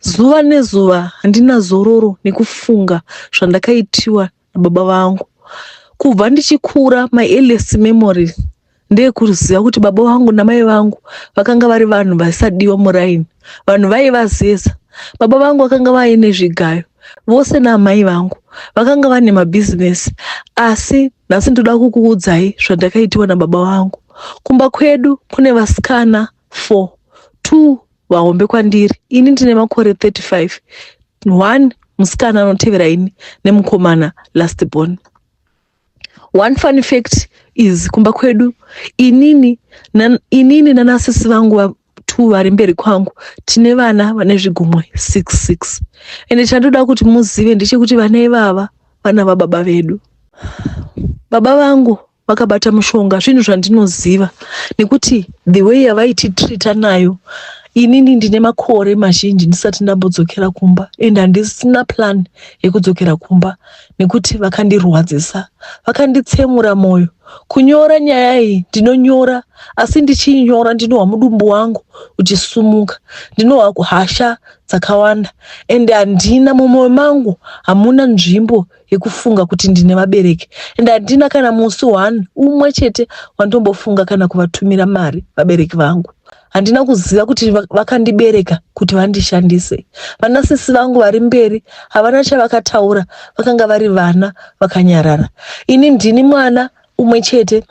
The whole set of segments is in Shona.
Zuva nezuva handina zororo nekufunga zvandakaitiwa nababa vangu. Kubva ndichikura my earliest memory ndeyekuziva kuti baba vangu namai vangu vakanga vari vanhu vasadiwa muraini, vanhu vaivazeza. Baba vangu vakanga vaine zvigayo vose naamai vangu vakanga vane mabhizinesi asi nhasi ndoda kukuudzai zvandakaitiwa nababa vangu. Kumba kwedu kune vasikana four, two vahombe kwandiri ini ndine makore 35 one musikana anotevera ini nemukomana last born one fun fact is kumba kwedu inini nan, inini nanasisi vangu two vari mberi kwangu tine vana vane zvigumwe six six ende chandoda kuti muzive ndechekuti vana ivava vana vababa vedu baba vangu vakabata mushonga zvinhu zvandinoziva nekuti the way yavaititrita nayo inini ndine makore mazhinji ndisati ndambodzokera kumba and handisina plan yekudzokera kumba nekuti vakandirwadzisa vakanditsemura mwoyo kunyora nyaya iyi ndinonyora asi ndichiinyora ndinohwa mudumbu wangu uchisumuka ndinohwa hasha dzakawanda and handina mumwoyo mangu hamuna nzvimbo yekufunga kuti ndine vabereki and handina kana musi one umwe chete wandombofunga kana kuvatumira mari vabereki vangu handina kuziva kuti vakandibereka kuti vandishandise vana sisi vangu vari mberi havana chavakataura vakanga vari vana vakanyarara ini ndini mwana umwe chete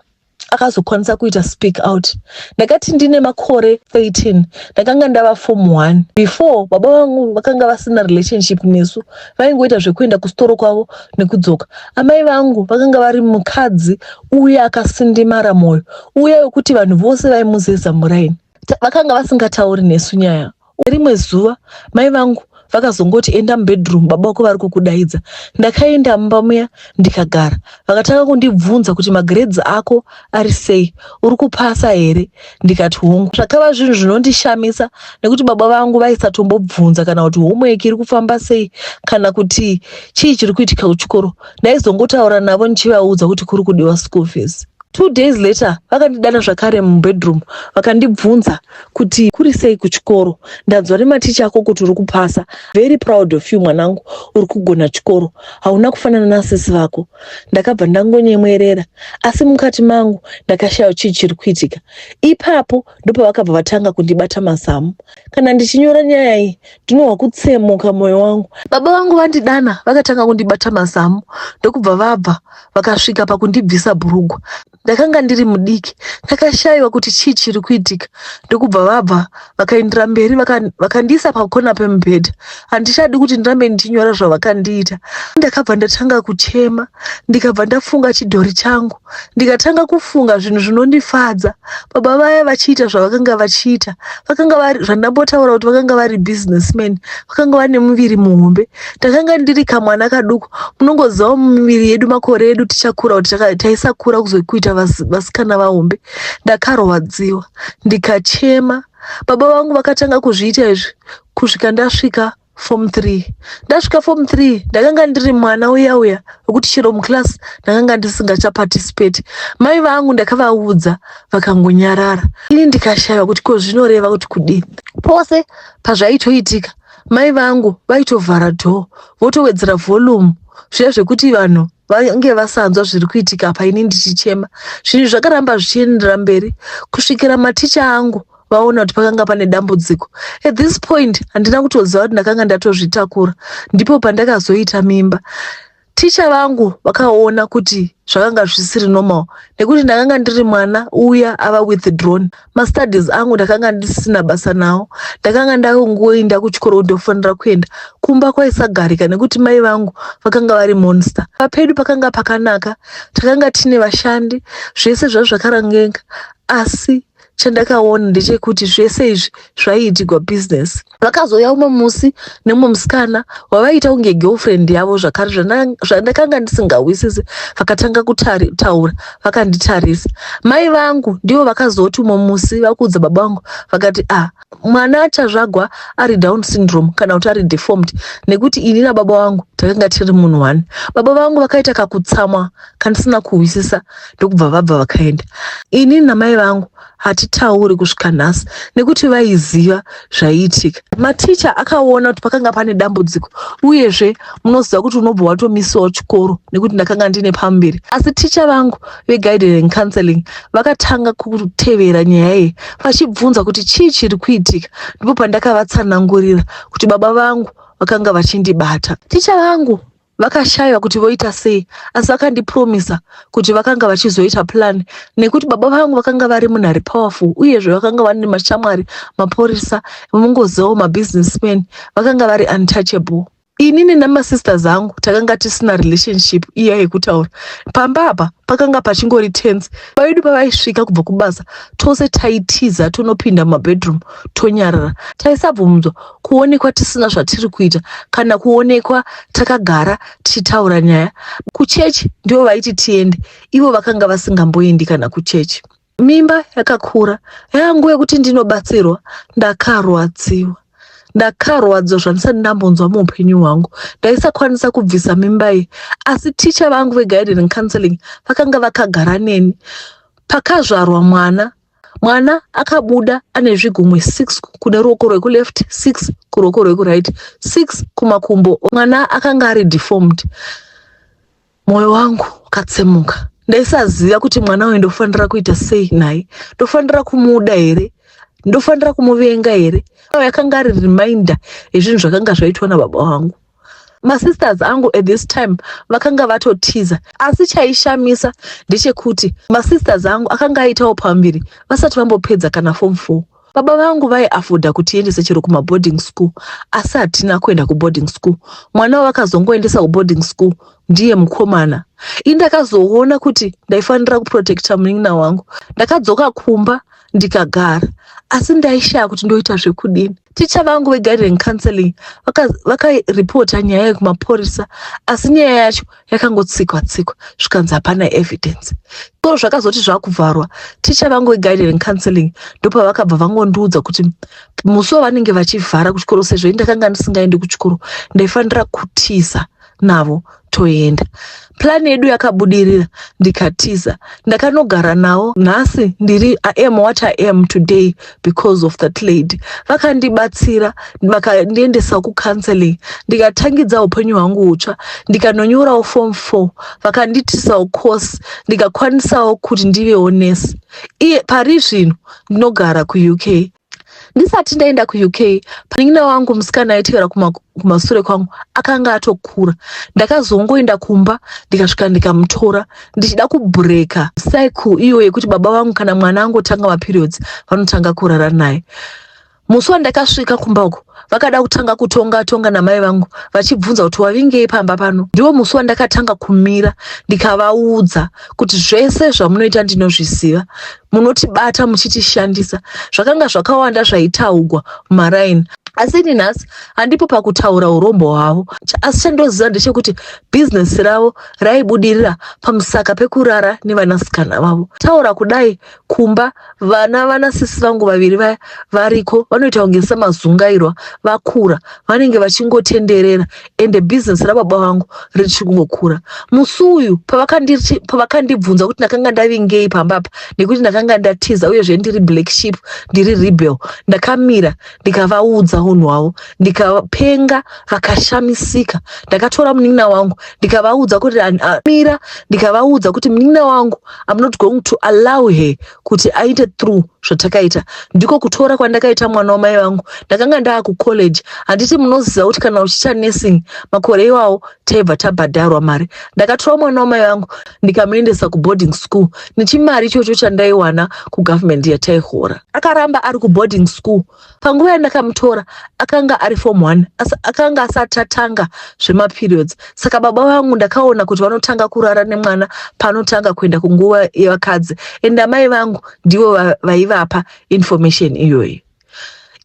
akazokwanisa kuita speak out ndakati ndine makore 13 ndakanga ndava form 1 before baba vangu vakanga vasina relationship nesu vaingoita zvekuenda kusitoro kwavo nekudzoka amai vangu vakanga vari mukadzi uye akasindimara mwoyo uye wekuti vanhu vose vaimuzeza muraini vakanga vasingatauri nesu nyaya Rimwe zuva mai vangu vakazongoti enda mubedroom baba vako vari kukudaidza. Ndakaenda mumba muya ndikagara. Vakatanga kundibvunza kuti magrades ako ari sei, uri kupasa here? Ndikati hongu. Zvakava zvinhu zvinondishamisa nekuti baba vangu vaisatombobvunza kana kuti homework iri kufamba sei kana kuti chii chiri kuitika kuchikoro. Ndaizongotaura navo ndichivaudza kuti kuri kudiwa school fees. Two days later vakandidana zvakare mubedroom vakandibvunza kuti kuri sei kuchikoro ndanzwa nematicha ako kuti uri kupasa very proud of you mwanangu uri kugona chikoro hauna kufanana nasisi vako ndakabva ndangonyemwerera asi mukati mangu ndakashaya chii chiri kuitika ipapo ndopavakabva vatanga kundibata mazamu kana ndichinyora nyaya iyi ndinohwa kutsemuka mwoyo wangu baba vangu vandidana vakatanga kundibata mazamu ndokubva vabva vakasvika pakundibvisa bhurugwa ndakanga ndiri mudiki ndakashaiwa kuti chii chiri kuitika ndokubva vabva vakaindira mberi vakandiisa pakona pemubhedha handichadi kuti ndirambe ndichinyora zvavakandiita ndakabva ndatanga kuchema ndikabva ndafunga chidhori changu ndikatanga kufunga zvinhu zvinondifadza baba vaya vachiita zvavakanga vachiita vakanga vari zvandambotaura kuti vakanga vari businessman vakanga vane muviri muhombe takanga ndiri kamwana kaduku munongozivawo mumiviri yedu makore edu tichakura kuti taisakura kuzokuita vasikana vahombe ndakarwadziwa ndikachema baba vangu vakatanga kuzviita izvi kusvika ndasvika form three ndasvika form three ndakanga ndiri mwana uya uya wekuti chero muclass ndakanga ndisingachaparticipate mai vangu ndakavaudza vakangonyarara ini ndikashaiva kuti ko zvinoreva kuti kudii pose pazvaitoitika Mai vangu vaitovhara door votowedzera volume zviya zvekuti vanhu vange vasanzwa zviri kuitika apa ini ndichichema. Zvinhu zvakaramba zvichienderera mberi kusvikira maticha angu vaona kuti pakanga pane dambudziko. At this point handina kutoziva kuti ndakanga ndatozvitakura ndipo pandakazoita mimba. Ticha vangu vakaona kuti zvakanga zvisiri normal nekuti ndakanga ndiri mwana uya ava with drone mastudies angu ndakanga ndisina basa nawo ndakanga ndakungoinda kuchikoro ndofanira kuenda kumba kwaisagarika nekuti mai vangu vakanga vari monster papedu pakanga pakanaka takanga tine vashandi zvese zvazvakarangeka asi chandakaona ndechekuti zvese izvi zvaiitigwa business vakazouya umwe musi nemumwe musikana wavaiita kunge girlfriend yavo zvakare zvandakanga ndisingawisisi vakatanga kutaura vakanditarisa mai vangu ndivo vakazoti umwe musi vakuudza baba vangu vakati ah mwana achazvagwa ari down syndrome kana kuti ari deformed nekuti ini nababa vangu takanga tiri munhu one baba vangu vakaita kakutsamwa kandisina kuhwisisa ndokubva vabva vakaenda ini namai vangu hatitauri kusvika nhasi nekuti vaiziva zvaiitika maticha akaona kuti pakanga pane dambudziko uyezve munoziva kuti unobva watomisawo chikoro nekuti ndakanga ndine pamberi asi ticha vangu veguided and counseling vakatanga kutevera nyaya iyi vachibvunza kuti chii chiri kuitika ndipo pandakavatsanangurira kuti baba vangu vakanga vachindibata ticha vangu vakashaiwa kuti voita sei asi vakandipromisa kuti vakanga vachizoita plan nekuti baba vangu vakanga vari munhu ari powerful uyezve vakanga vane mashamwari mapurisa mungozivawo mabusinessman vakanga vari untouchable inini nemasisters angu takanga tisina relationship iya yekutaura pamba apa pakanga pachingori tense vavedu pavaisvika kubva kubasa tose taitiza tonopinda mumabedroom tonyarara taisabvumdzwa kuonekwa tisina zvatiri kuita kana kuonekwa takagara tichitaura nyaya kuchechi ndivo vaiti tiende ivo vakanga vasingamboendi kana kuchechi Mimba yakakura yangu yekuti ndinobatsirwa ndakarwadziwa ndakarwadziwa zvandisati ndambonzwa muupenyu hwangu ndaisakwanisa kubvisa mimba iyi asi ticha vangu veguided and counseling vakanga vakagara neni pakazvarwa mwana mwana akabuda ane zvigumwe 6 kune ruoko rwekuleft 6 kuruoko rwekuright 6 kumakumbo mwana akanga ari deformed Moyo wangu ukatsemuka ndaisaziva kuti mwana uyu ndofanira kuita sei naye ndofanira kumuda here ndofanira kumuvenga here yakanga ari reminder yezvinhu zvakanga zvaitwa nababa vangu masisters angu at this time vakanga vatotiza asi chaishamisa ndechekuti masisters angu akanga aitawo pambiri vasati vambopedza kana form four Baba vangu vaiafoda kutiendesa chero kumaboarding school asi hatina kuenda kuboarding school. Mwana wavakazongoendesa kuboarding school ndiye mukomana. Ini ndakazoona kuti ndaifanira kuprotecta munin'ina wangu. Ndakadzoka kumba ndikagara asi ndaishaya kuti ndoita zvekudini. Ticha vangu veguiding counseling vakaripota vaka nyaya yekumapurisa asi nyaya yacho yakangotsikwa tsikwa zvikanzi hapana evidence ko zvakazoti zvakuvharwa ticha vangu veguidering counseling ndopavakabva vangondiudza kuti musi wavanenge vachivhara kuchikoro sezvo i ndakanga ndisingaendi kuchikoro ndaifanira kutiza navo toenda plani yedu yakabudirira ndikatiza ndakanogara nawo nhasi ndiri iam what iam today because of that lady vakandibatsira vakandiendesa kucounseling ndikatangidza upenyu hwangu hutsva ndikanonyorawo form four vakandiitisawo course ndikakwanisawo kuti ndivewo nurse iye pari zvino ndinogara kuuk ndisati ndaenda kuuk panin'ina wangu musikana aitevera kumasure kwangu akanga atokura ndakazongoenda kumba ndikasvika ndikamutora ndichida kubreaker cycle iyo yekuti baba vangu kana mwana angotanga maperiods vanotanga kurara naye musi wandakasvika kumba uko vakada kutanga kutonga tonga namai vangu vachibvunza kuti wavingei pamba pano ndiwo musi wandakatanga kumira ndikavaudza kuti zvese zvamunoita ndinozviziva munotibata muchitishandisa zvakanga zvakawanda zvaitaugwa mumaraini asi ini nhasi handipo pakutaura urombo hwavo Ch- asi chandoziva ndechekuti bhizinesi ravo raibudirira pamusaka pekurara nevanasikana vavo taura kudai kumba vana vana sisi vangu vaviri vaya variko vanoita kunge samazungairwa vakura vanenge vachingotenderera ende bhizinesi rababa vangu richiri kungokura musi uyu pavakanditi- pavakandibvunza kuti ndakanga ndavingei pamba apa nekuti ndakanga ndatiza uyezve ndiri black sheep ndiri rebel ndakamira ndikavaudza unhu hwavo ndikapenga vakashamisika ndakatora munin'ina wangu ndikavaudza kuti mira ndikavaudza kuti munin'ina wangu am not going to allow her kuti aite through zvatakaita ndiko kutora kwandakaita mwana wamai vangu ndakanga ndaa kucollege handiti munoziva kuti kana uchiita nursing makore iwawo taibva tabhadharwa mari ndakatora mwana wamai vangu ndikamuendesa kuboarding school nechimari ichocho chandaiwana kugovernment yataihora akaramba ari kuboarding school panguva yandakamutora akanga ari form one asi akanga asati atanga zvemaperiods saka baba vangu ndakaona kuti vanotanga kurara nemwana paanotanga kuenda kunguva yevakadzi and amai vangu ndivo vaivapa information iyoyi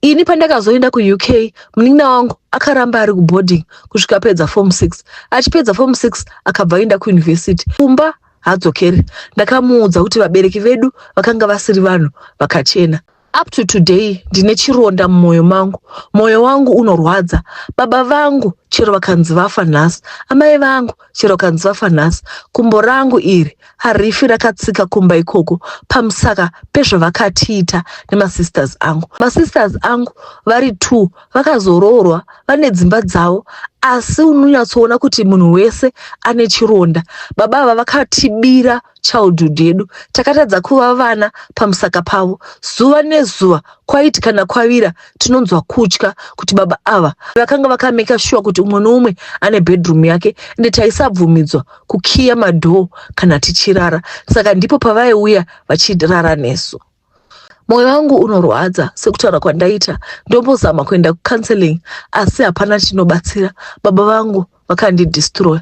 ini pandakazoenda kuuk munin'ina wangu akaramba ari kuboarding kusvika apedza form six achipedza form six akabva aenda kuyunivhesiti kumba hadzokeri ndakamuudza kuti vabereki vedu vakanga vasiri vanhu vakachena up to today ndine chironda mumwoyo mangu mwoyo wangu unorwadza baba vangu chero vakanzi vafa nhasi amai vangu chero kanzi vafa nhasi kumbo rangu iri harifi rakatsika kumba ikoko pamusaka pezvavakatiita nemasisters angu masisters angu vari two vakazoroorwa vane dzimba dzavo asi unonyatsoona kuti munhu wese ane chironda baba ava vakatibira childhood yedu takatadza kuva vana pamusaka pavo zuva nezuva kwaiti kana kwavira tinonzwa kutya kuti baba ava vakanga vakameka shuwa kuti umwe noumwe ane bedroom yake ende taisabvumidzwa kukiya madhoo kana tichirara saka ndipo pavaiuya vachirara nesu Moyo wangu unorwadza sekutaura kwandaita ndombozama kuenda kucounseling asi hapana chinobatsira baba vangu vakandidistroya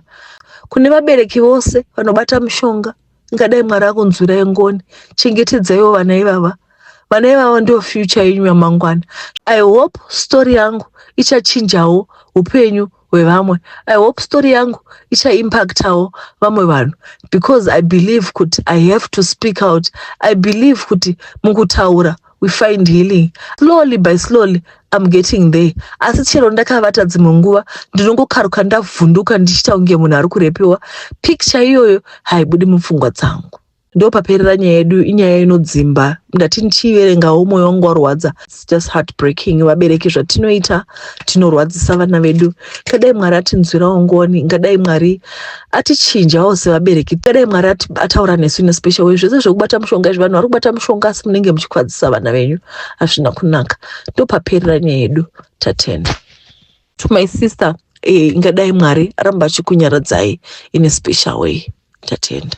kune vabereki vose vanobata mushonga ingadai mwari akunzwira yengoni chengetedzaiwo vana ivava vana ivava ndiyo future yenyu yamangwana i hope story yangu ichachinjawo upenyu wevamwe i hope story yangu ichaimpactawo vamwe vanhu because i believe kuti i have to speak out i believe kuti mukutaura we find healing slowly by slowly im getting there asi chero ndakavata dzimwe nguva ndinongokaruka ndavhunduka ndichiita kunge munhu ari kurepiwa picture iyoyo haibudi mupfungwa dzangu ndopaperera nyaya yedu inyaya inodzimba ndati ndichiiverengawo mwoyo wangu warwadza just heartbreaking vabereki zvatinoita tinorwadzisa vana vedu kadai mwari atinzwirawo ngoni ngadai mwari atichinjawo sevabereki kadai mwari ataura nesu in special way zvese zvekubata mushonga izvi vanhu vari kubata mushonga asi munenge muchikwadzisa vana venyu hazvina kunaka ndopaperera nyaya yedu tatenda to my sister eh, ingadai mwari aramba achikunyaradzai in a special way tatenda